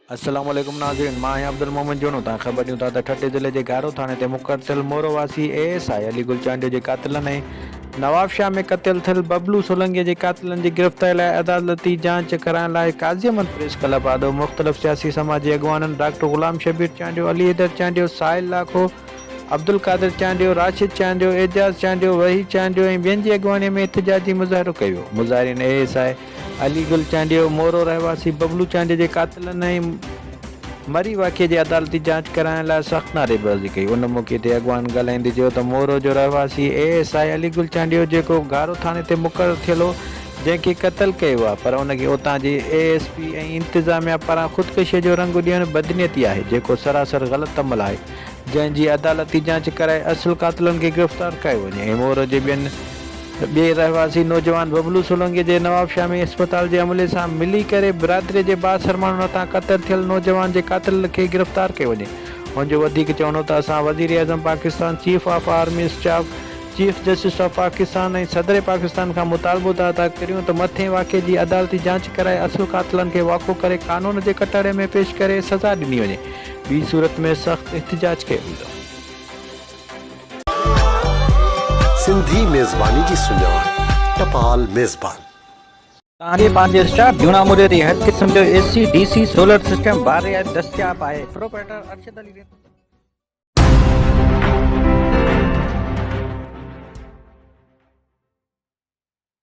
السلام عليڪم ناظرين مان آهيان عبدالمومن جوڻو تان خبر ڏيون ٿا ته ٺٽي ضلعي جي گارو ٿاڻي تي مقتل مورو واسي A S I Ali Gul Chandio جي قاتلن ۽ نوابشاهه ۾ قتل ٿيل ببلو سولنگي جي قاتلن جي گرفتاري لاء عدالتي جانچ ڪرائڻ لاء قاضي احمد پريس ڪلب آڏو مختلف سياسي سماجي اڳواڻن ڊاڪٽر غلام شبير چانڊيو علي حيدر چانڊيو سائل لاکو عبدالقادر چانڊيو، راشد چانڊيو، اعجاز چانڊيو، وحيد چانڊيو ۽ ٻين جي اڳواڻيء ۾ احتجاجي مظاهرو ڪيو ويو. مظاهرين A S I Ali Gul Chandio, Moro رهواسي ببلو چانڊيو جي قاتلن ۽ مري واقعي جي عدالتي جاچ ڪرائڻ لاء سخت نعري بازي ڪئي. ان موقعي تي اڳواڻن ڳالهائيندي چيو ته مورو جو رهواسي A S I Ali Gul Chandio جيڪو گارو ٿاڻي تي مقرر ٿيل هو جنهن کي قتل ڪيو ويو آهي پر ان کي اتان جي اي ايس پي ۽ انتظاميا پاران خودڪشيء جو رنگ ڏيڻ بدنيتي آهي جيڪو سراسر غلط عمل آهي. جنهن جي عدالتي جاچ ڪرائي اصل قاتلن کي گرفتار ڪيو وڃي ۽ مور جي ٻين ٻئي رهواسي نوجوان ببلو سولنگي جي نوابشاهه ۾ اسپتال جي عملي سان ملي ڪري برادري جي بااثر ماڻهن هٿان قتل ٿيل نوجوان جي قاتل کي گرفتار ڪيو وڃي هن جو وڌيڪ چوڻو ته اسان وزيراعظم Pakistan chief of army staff chief justice of Pakistan ۽ صدر پاڪستان کان مطالبو ٿا ادا ڪريون ته مٿين واقعي جي عدالتي جاچ ڪرائي اصل قاتلن کي واکو ڪري قانون جي ڪٽهڙي ۾ پيش ڪري سزا ڏني وڃي ٻي صورت ۾ سخت احتجاج ڪيو ويندو. سنڌي ميزباني جي سڃاڻ ٽپال ميزبان. توهان جي پنهنجي اسٽاف جون آمريت جي هر قسم جو A C, D C, solar system وار رعايت دستياب آهي، پروپرائيٽر ارشد علي رينو.